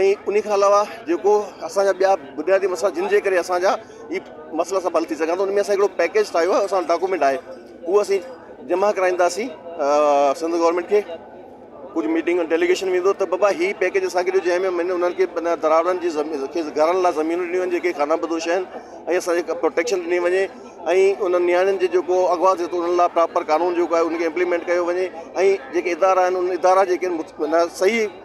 ۽ انهي کان علاوه جيڪو اسان جا ٻيا بنيادي مسئلا جن جي ڪري اسان جا هي مسئلا سڀ حل ٿي سگهن ٿا ان ۾ اسان هڪڙو پيڪيج ٺاهيو آهي اسان ڊاڪومينٽ آهي اهو اسين جمع ڪرائينداسين سنڌ گورنمنٽ کي ڪجهه ميٽنگ ڊيليگيشن ويندو ته بابا هي پيڪيج اسان کي ڏيو جنهن ۾ انهن کي دراوڙن جي گهرن لاء زمينون ڏنيون آهن جيڪي خانه بدوش آهن ۽ اسانجي پروٽيڪشن ڏني وڃي ۽ انهن نياڻين جي جيڪو اغوا ٿئي ٿو ان لاء پراپر قانون جيڪو آهي ان کي امپليمنٽ ڪيو وڃي ۽ جيڪي ادارا آهن ان ادارا جيڪي آهن صحيح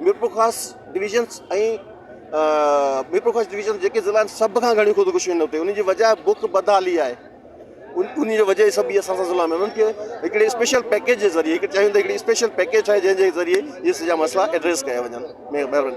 ميرپورخاص ڊويزنس ۽ ميرپورخاص ڊويزن جيڪي ضلع آهن سڀ کان گهڻي خودڪشيون آهن اتي ان جي وجهه آهي بک بدحالي آهي ان ان جي وجهه هي سڀ اسان سان ضلع ۾ انهن کي هڪڙي اسپيشل پيڪيج جي ذريعي هڪ چاهيون ته هڪڙي اسپيشل پيڪيج ٺاهي جنهن جي ذريعي هي سڄا مسئلا ايڊريس ڪيا وڃن مهرباني